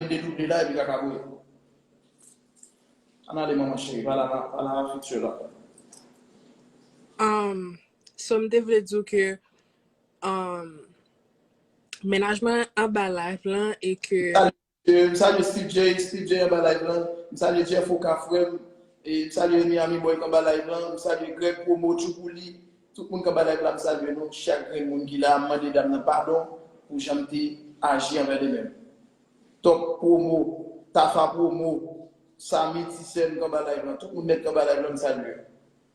Mete double la epi kaka bouyi. Ann ale manman cheri pa la pa la a future la. Umm so m te vle di w ke umm mennaj mwen anba live lan e ke. M salye Steve Jay, Steve Jay anba live lan, m salye Jeff Oka frè m, e m salye Miami boy k anba live lan, m salye Greg Promo, Tchoupouli, Tout moun k ap gad layv la m salye nou chak grenn moun ki la m mande dam nan padon pou jan m te aji anvè li menm top promo tafa promo samy ti sè m k anba layv lan tout moun nèt k anba layv lan m salye yo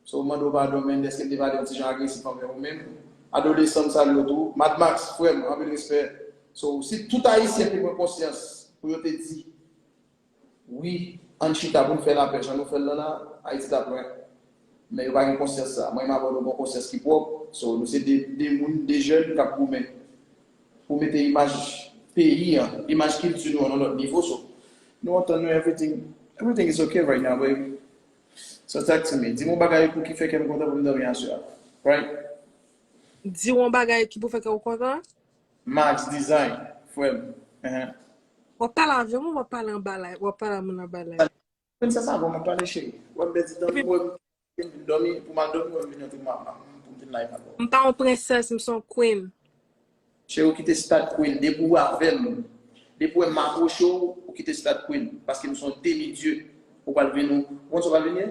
so m mande w padon menn dèske m te pale yon ti jan agresif anvè ou menm adolesan m salye w tou mad max frè m anpil respè so si tout ayisyen te pran konsyans pou yo te di. Wi, ann chita pou n fè lapè jan nou fè l lan la, Ayiti t ap lwen. Men yo pa gen konsyans sa. Mwen m avè w nou gon konsyans ki pwòp, so nou se de de moun, de jèn k ap goumen pou mete imaj peyi an, imaj kilti nou an nan lòt nivo, so nou antann nou everything, everything is ok right now baby, so talk to me, di m yon bagay pou ki fè kè m kontan pou m dòmi aswè a, right? Di w yon bagay ki pou fè kè w kontan? Max design frèm ehe. Wap pale avèm ou wap pale anba live wap pale a moun anba live. Princess avan mwen pale cheri. Wap bè di dòmi wèm vin dòmi pou mal dòmi wèm vin antre mwa pa m pou m vin live avèw. M pa yon princess m son queen. Cheri ou kite stade queen depi ou avèm depi ou wèm m aproche w ou kite stade queen paske m son demi dieu ou pral vin ou konn sa w pral vin ye.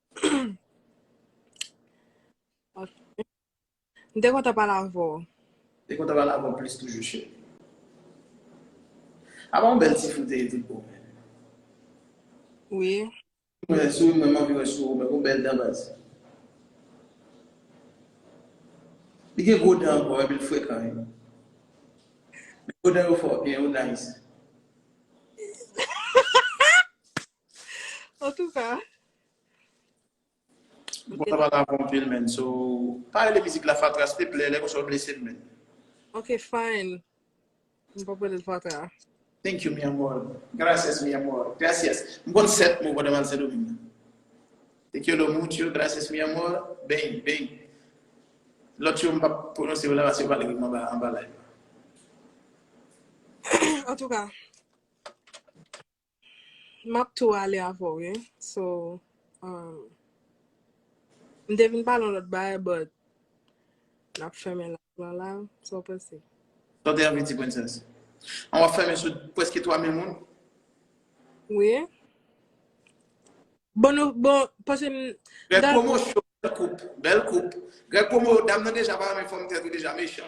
M te kontan pale avè w. M te kontan pale avè w plis toujou cheri. Apa yon bèl ti foute tout bon men. Wi. Mwen sou mwen m anvi wè sou ou men gon bèl dan baz. Li gen gwo dan ankò epi l frekan wi. Men gwo dan yo fò ok yo nice. Antouka. Mwen pa la bon pil men. So, pa rele mizik la fatra s'il te plè, lè konsa ou blese m men. Ok fine. M pap rele l fatra. Thank you mi amor. Gracias mi amor. Gracias. M konn 7 mo pandan m al Sendoming. Te quiero mucho, gracias mi amor, bang, bang. Lòt yo m pap pwononse yo la paske yo pa leve m anba anba live la. Antouka. Map tou ale avèw wi so um m te vin pale yon lòt bagay but nap fèmen live lan la sa w panse? Sa w te anvi di princess? An wap fèmen sou preske 3000 moun? Wi Bon nou bon paske m Greg dal promo show bèl koup bèl koup Greg promo dam nan deja pa renmen fòm tèt ou deja mechan.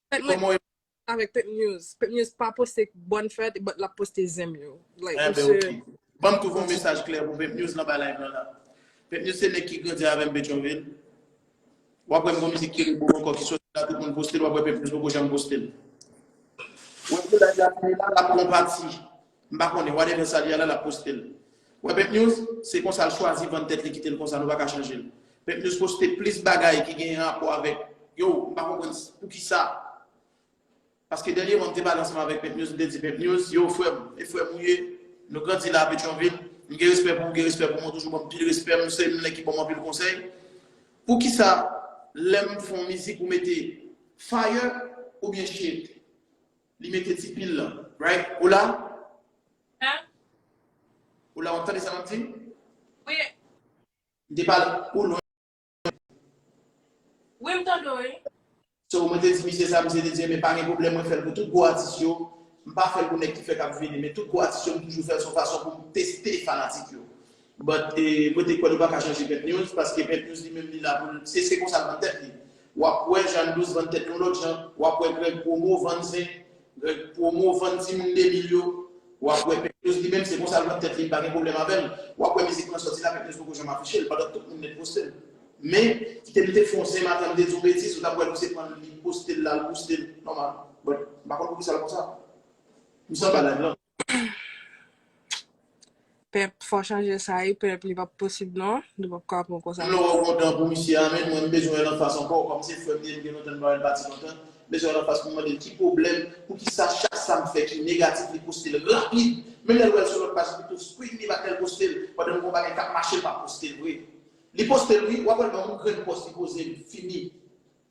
Fèt mwen Koman avèk Pep News. Pep News pa poste bòn fèt but lap poste zen m yo. Like Enben ok. misye Banm twouve yon mesaj klè pou Pep News nan bay live lan la. Pep News se nèg ki grandi avèm Petyonvil. Wap wè m gon mizik Kere Boo ankò ki soti la tout moun poste l wap wè Pep News poko janm poste l. Wè pou live la fini la lap pran pati. M pa konnen, whatever sa li a la, l ap poste l. Wè Pimp News? Se konsa l chwazi vann tèt li kite l konsa nou pa ka chanje l. Pimp News poste plis bagay ki genyen rapò avèk Yow m pa konprann poukisa paske dènyeman m te pale ansanm avèk Pimp News m te di Pimp News yow frè m e frè m ou ye nou grandi la a Petyonvil m gen respè pou ou gen respè pou mwen ou toujou ban m pil respè m se yon nèg ki ban m anpil konsèy poukisa lè m fè yon mizik ou mete fire oubyen shit. Li mete ti pil lan. Right? Ou la? Huh? Ou la wap tande sa map di? Wi. M te pale ou lwen. Wi m tande w wi. So mwen te di misye sa misye te di enben pa gen pwoblèm mwen fèl pou tout gwo atis yo. M pa fèl pou nèg ki fèk ap vini men tout gwo atis yo m toujou fèl son fason pou m teste fanatik yo. But mwen te kwè nou paka chanje Pent News paske Pent News li menm li la poul se se konsa l vann tèt li wap wè Jeanne Douce vann tèt yon lòt jan wap wè Greg Promo vann zen Greg Promo vann timoun 2000 yo wap wè Pent News li menm se konsa l vann tèt li m pa gen pwoblèm avè l wap wè mizik lan sòti la Pent News poko janm afiche l pandan tout moun nèt poste l men kite m te fon zen m atan m te di yon betiz ou tap wè l ou se pran l li poste l la l bouste l nòmal but m pa konn poukisa l konsa m sanba live lan. Pep fò chanje sa ui pep li pap posib non nou pap ka pran konsa non. Loro gon dan pou misye a menn mwen m bezwen wèl anfas ankò kòm se frèm li em gen lontan m pa wèl pati lontan m bezwen wèl anfas poum mandel ki pwoblèm poukisa chak sam fè ki negatif li postel rapid menm lèl wèl sou lòt paj li tou screen li pa tel postel pandan m gon bagay kap mache m pap postel vre li postel wi wap wèl banm yon grenn pòz li pozem fini.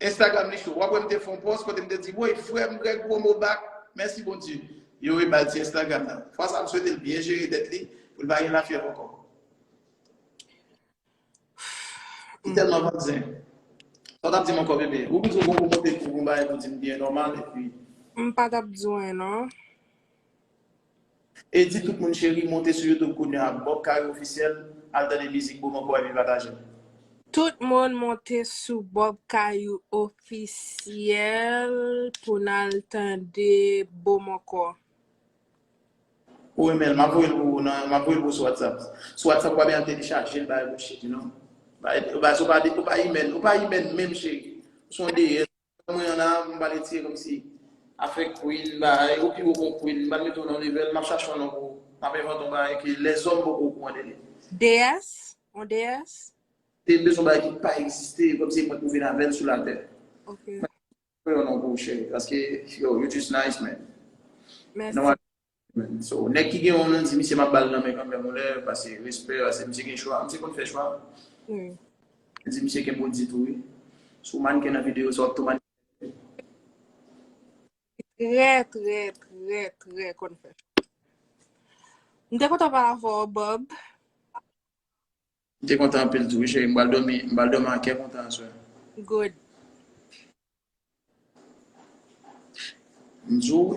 Instagram li cho. Wap wè m te fè yon pòs kote m te di woy frè m Greg promo back mèsi Bondye. Yo re bal ti Instagram nan. Fwa sa m swete l byen jere tèt li pou l pa gen lafyèv ankò. Li tèlman vant zen. Sa w tap di m ankò bebe? Ou bezwen yon pwomotè ki pou yon bagay pou di m byen nòmal epi. M pa tap di w anyen non. Eddy tout moun cheri monte sou youtube kounya bob kare officiel al tande mizik boom ankò epi patajel. Tout moun monte sou bob kayou officiel pou nal tande boom ankò. Ou renmenl map voyel pou ou nan map voyel pou ou sou whatsapp sou whatsapp ou pa bezwen telechajel bagay bouch cheri non bagay ou pa ou pa imèn ou pa imèn menm cheri ou son deyès. Nan mwen an la a, m pale tiye komsi. Afè Queen bahay, ou pi gwo kon Queen, m pral mete w nan level, map chache yon non pou ou, map envante yon bagay ke lèzòm poko o kouran de li. Dees? Yon dees? Dees yon bagay ki pa egziste, komsi mwen pou vin avèl sou latè. Ok. Mwen chache yon non pou ou cheri, paske yo just nice man. Mèsi. So nèg ki gen yon non di misye map bal nan men kanmèm yon lè pase respè pase misye gen chwa misye konn fè chwa yo di misye gen body tou wi si w manken nan video sa wap tou manken Li trè trè trè trè konn fè chwa M te kontan pale avè w Bob M te kontan anpil tou wi cheri m pral dòmi m pral dòmi ak kè kontan aswè Good M di w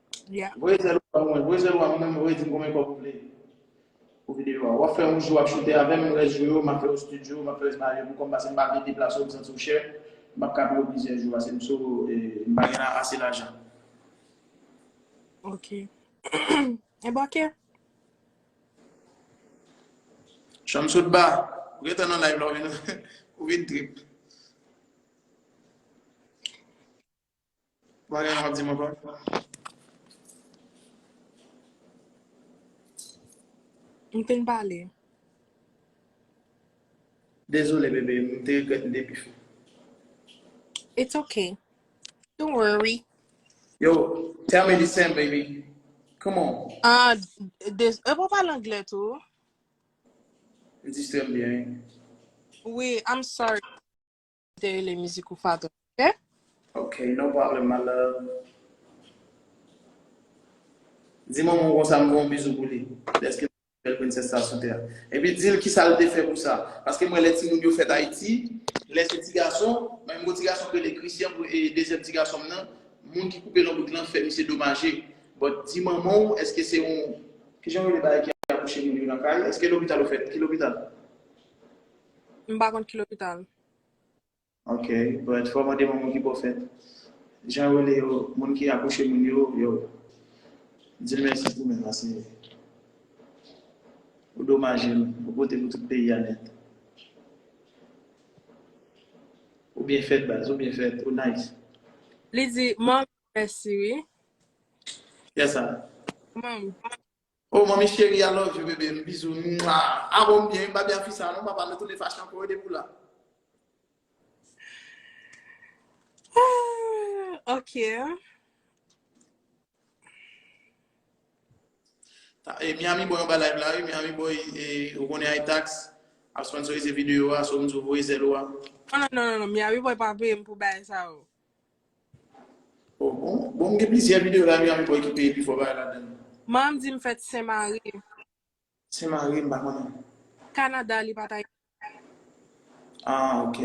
Yeah. Voye zèl ou a mwen, voye zèl ou a mwen, voye di m konbyen kòb ou vle pou videyo a. Wap fè yon jou wap choute avèm, rès jou yo map fè yo studio, map fè scenario pou kòm pase m pa vle deplase w, m santi w chè, m pap ka peye w plizyè jou pase m sou e m pa gen ase lajan. Ok. Enben ok. Shamsudba, ou gen tan nan live la ou vin trip. Bagay wap di m ankò? M fin pale. Dezole bebe, m te regrèt m te pi fò. It's ok. Don't worry. Yo, tell me the same baby. Come on. Ah, des, e pou pale anglè tou? M distrè m byen wi. Wi, I'm sorry. Ou te rele mizik ou Faton ok. Ok no problem my love. Di manman w konsa m voye yon bizou pou li deske li pi bèl princess sa sou tè epi dil kisa l te fè pou sa paske m wè lè timoun yo fèt ayiti lè se ti gason mwen m gon ti gason k rele Christian pou e dezyèm ti gason m nan moun ki koupe lonbrik lan fè misye domaje but di manman w eske se yon kijan yo rele bagay ki akouche moun yo nan kay eske lopital ou fèt ki lopital. M pa konn ki lopital. Ok, but fò mande moun ki pwofèt. Jan yo rele yo, moun ki akouche moun yo, yo. Di l mèsi pou men la, Senyè. Ou domaje l, ou pote pou tout peyi a nèt. Ou byen fèt baz, ou byen fèt, ou nice. Li di, Mom, mèsi wi. Kiyès sa? Mom. Oh manmi chérie I love you bebe m bizou mua ah bon m byen m pa byen ak fi sa non papa nou tounen fache ankò wi depi w la. Ah ok. E Miami boy anba live la wi, Miami boy e ou konnen ay tax ap sponsorize video a so m di w voye zèl ou a. Non non non non non Miami boy pa peye m pou bagay sa yo. Oh bon, bon m gen plizyè video la Miami boy ki peye pi fò bay ladan l. Manmanm di m fèt Sen Mari. Sen Mari m pa konnen. Canada li pat Ayiti. Ah ok.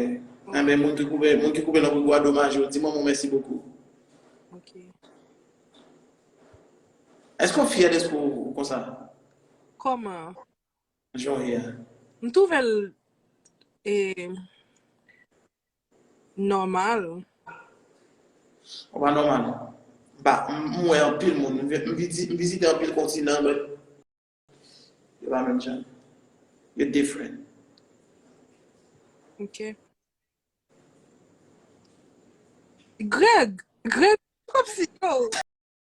Enben moun ki koupe, moun ki koupe nan koko a domaj yo, di manman w mèsi bokou. Ok. Eske w fyè deske w konsa? Koman? Jan w ye a. M twouve l e. Nòmal. Ou pa nòmal non. M pa, m wè anpil moun, m vizite, m vizite anpil kontinan but yo pa menm jan. Yo different. Ok. Greg! Greg, kòmsi yo?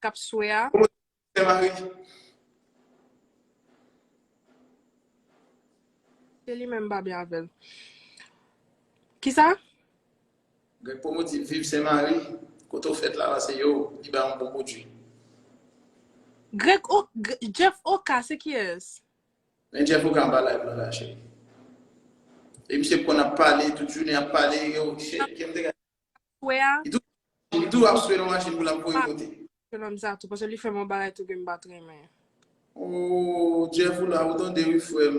kap swe a. Bon kote Sè Marie? Se li menm mpa byen avèl. Kisa? Greg Promo di viv Sen Mari, kote ou fèt la lan se yo, li bay yon bon pwodwi. Greg oka, Jeff oka se kiyès? Men Jeff oka anba live lan la cheri. E misye konn ap pale tout jounen ap pale yo, cheri kem te gade Swe a. Li tou ap swe nan machin pou lap voye monte. Se nonm sa tou paske li fèm yon bagay tou kem pat renmen. Ooh Jeff ou la ou tande wi frèm.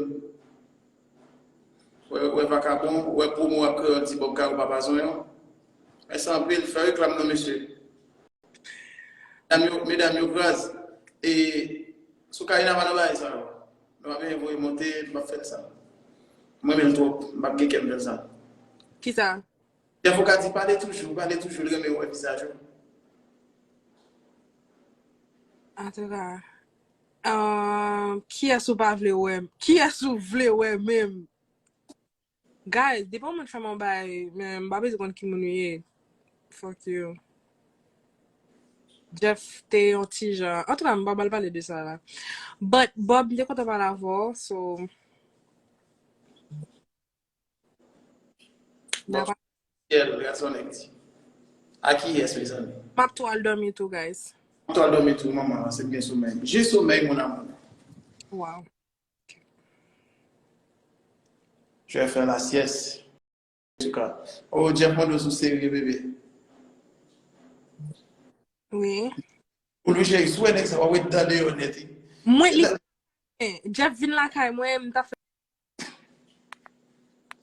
Wè vakabon, wè promo ak kreyòl ti bòb kay ou papa zonyon. Mèsi anpil, fè reklam non mesye. Medam yo kraz. E sou Karina pa nan bagay sa yo. Nou pa benyen voye monte, nou pap fè sa. M renmen l twòp, m pap gen kè m fè l sa. Kisa? Chèf ou ka di pale toujou, pale toujou li renmen wè vizaj ou. Antouka kiyès ou pa vle wè, kiyès ou vle wè menm? Guys depi yon moun fèm yon bagay men m pa bezwen konn ki moun li ye fuck you. Jeff te yon ti jan antouka m pa bal pale de sa la but Bob m te kontan pale avèw so. Nan pa. Ciel gason nèg di. A kiyès mezanmi? Map tou al dòmi tou guys. Map tou al dòmi tou manman se byen somèy. Je somèy mon amour. Waw. Tu as fait la sieste. Antouka. Oh Jeff Mondos ou serye bebe. Wi. Ou lou cheri sou wè nèg sa wap wè dan deyò nèt wi. Mwen li Jeff vin lakay mwen mta fè.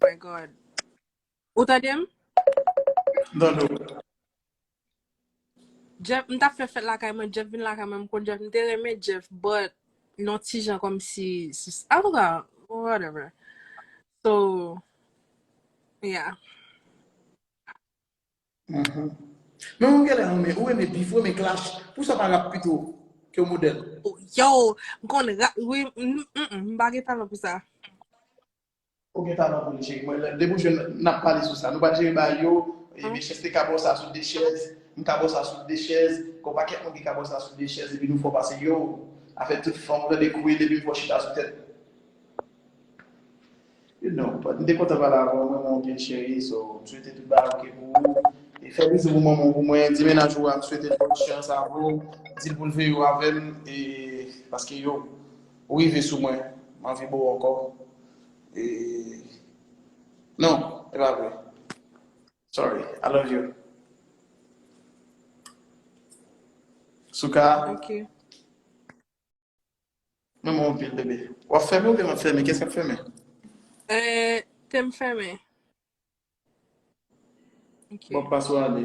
My God. Ou tande m? M tande w. Jeff, m tap fè fèt lakay mwen, Jeff vin lakay mwen, m konn Jeff, m te renmen Jeff, but yon ti jan kòmsi, antouka, whatever. So, yeah. Men ou genlè renmen, ou renmen beef, ou renmen clash, pou sa pa rap pito ke w model? Yo, m konn rap wi, m pa gen talan pou sa. Ou gen talan pou li cheri mwen, depi ou jwenn n ap pale sou sa. Nou pa jere bagay yo, Mechanste ka ba w sa sou 2 chèz, m ka ba w sa sou 2 chèz, gen yon pakèt moun ki ka ba w sa sou 2 chèz epi nou fò pase yoww, afè tout fanm, ou tande kouwil epi m fè w chita sou tèt. You know but m te kontan pale avè w m renmen w pil cheri so m swete tout bagay ok pou ou e fè bizou pou manman w pou mwen di mennaj ou a m swete l bon chans avè w dil pou l veye w avè m e paske yo ou rive sou mwen m anvi bo w ankò e non e pa vre sorry I love you Souca. Mwen renmen w anpil bebe. Wap fèmen oubyen map fèmen? Kiyès kap fèmen? Eeh tem fèmen. Bon pas ou ale.